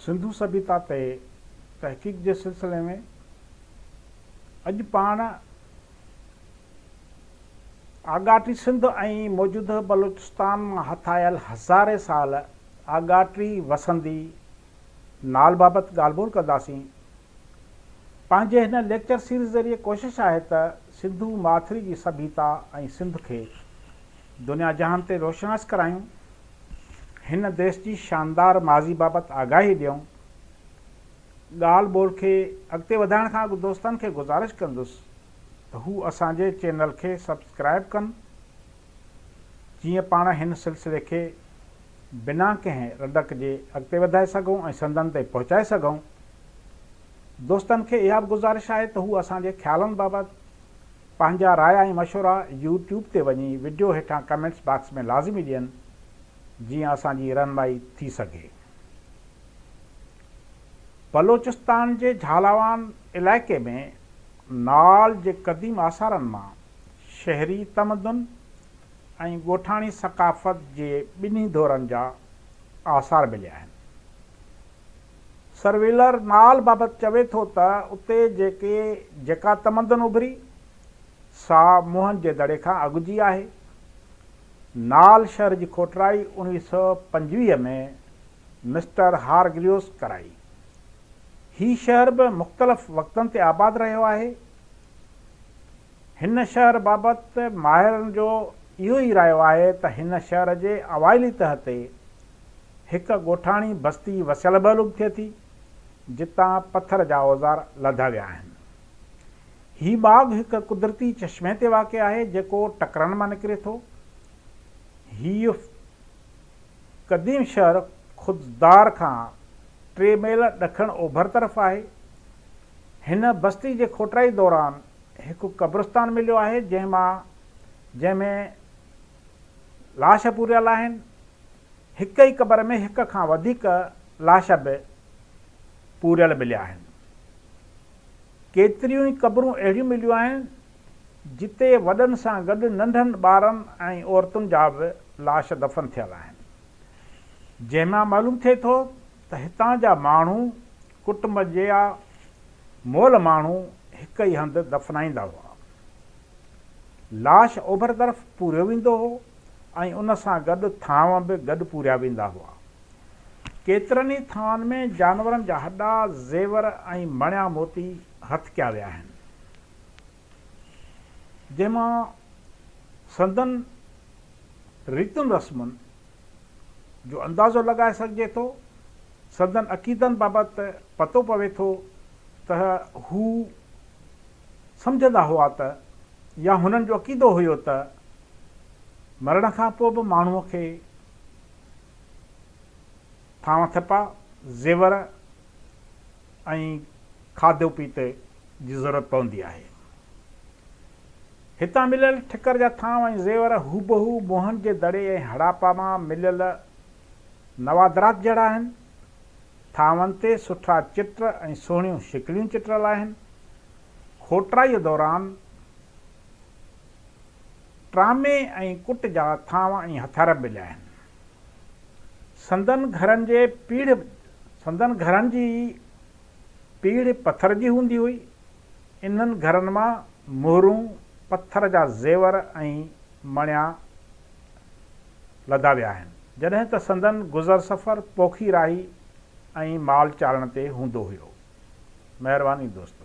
سنڌو سڀيتا تي تحقيق جي سلسلي ۾ اڄ پاڻ آڳاٽي سنڌ ۽ موجوده بلوچستان مان هٿ آيل هزارين سال آڳاٽي وسندي نال بابت ڳالهه ٻولهه ڪنداسين. پنهنجي هن ليڪچر سيريز ذريعي ڪوشش آهي ته سنڌو ماٿري جي سڀيتا ۽ سنڌ کي دنيا جهان تي روشناس ڪرايون، هن ديس جي شاندار ماضي بابت آگاهي ڏيون. ڳالهه ٻولهه کي اڳتي وڌائڻ کان اڳ دوستن کي گذارش ڪندس ته هو اسان جي چينل کي سبسڪرائيب ڪن جيئن پاڻ هن سلسلي کي بنا ڪنهن رڏڪ جي اڳتي وڌائي سگهون ۽ سنڌن تائين پهچائي سگهون. دوستن کي اها به گذارش آهي ته هو اسان جي خيالن بابت پنهنجا رايا ۽ مشورا يو ٽيوب تي وڃي وڊيو هيٺان ڪمينٽس باڪس ۾ لازمي ڏين جيئن اسان جي رهنمائي ٿي سگهي. بلوچستان جي جهالاوان علائقي ۾ نال جي قديم آثارن مان شهري تمدن ۽ ڳوٺاڻي ثقافت جي ٻنهي دورن جا آثار مليا آهن. سرويلر نال بابت چوي ٿو ته اتي جيڪي جيڪا تمدن اڀري سا موهن جي دڙي کان اڳ جي آهي. نال شهر جي کوٽرائي اوڻويهه سؤ پنجويهه ۾ مسٽر هارگريوس ڪرائي. هي شهر به مختلف وقتن تي آباد رهيو آهي. هن شهر بابت ماهرن جو اهو ئي رايو آهي ته هن شهر جي اوائلي تهه تي هڪ ڳوٺاڻي بستي وسيل به علوم ٿئي ٿي، جتان پٿر جا اوزار لڌا ويا آهن. هي ٻاگهه هڪ قدرتي چشمي تي واقع آهي، جيڪو ٽڪرن مان نڪري ٿو. هيء قديم شهر خضدار کان ٽي ميل ڏکڻ اوڀر طرف آهي. هن بستي جي کوٽرائي دوران هڪ قبرستان مليو آهي جنهن مان جنهن ۾ لاش پوريل آهن، هڪ ئي قبر ۾ هڪ کان وڌيڪ لاش به پوريل مليا آهن. ڪيتريون ئي قبرون اهڙيون مليون آهن جتي وڏن سان گڏ ننڍن ٻارن ۽ عورتن جا به لاش دفن ٿيل آهن جنهن مان معلوم ٿئي ٿو ته هتان جا ماڻهو ڪٽنب جيا مئل ماڻهو هڪ ئي هنڌ دفنائيندا هئا. لاش اوڀر طرف پوريو ويندو هو ۽ ان سان گڏ ٿانء به گڏ پوريا ويندا هئا. ڪيترن ئي ٿانون ۾ جانورن جا هڏا، زيور ۽ مڻيا موتي هٿ ڪيا ويا آهن، جنهن مان سندن ريتن رسمن، جو اندازو لڳائي سگهجي ٿو، سندن عقيدن بابت پتو پوي ٿو ته هو سمجهندا هئا ته يا هنن جو عقيدو هيو ته مرڻ کان پوء به ماڻهوء کي ٿانء ٿپا، زيور ۽ کاڌو پيتي جي ضرورت پوندي آهي. هتان مليل ٺڪر جا ٿانو ۽ زيور هوبهو موهن جي دڙي ۽ هڙاپا مان مليل نوادرات جهڙا آهن. ٿانون تي سٺا چٽ ۽ سهڻيون شڪليون چٽريل آهن. کوٽرائيء دوران ٽرامي ۽ ڪٽ جا ٿانو ۽ هٿيار به مليا آهن. سندن گهرن جي پيڙهه سندن گهرن جي پيڙهه پٿر جي هوندي هئي. انهن گهرن مان مهرون، پٿر جا زيور ۽ مڻيا لڌا ويا آهن. جڏهن ته سندن گذر سفر پوکي راهي ۽ مال چارڻ تي هوندو هيو. مهرباني دوستو.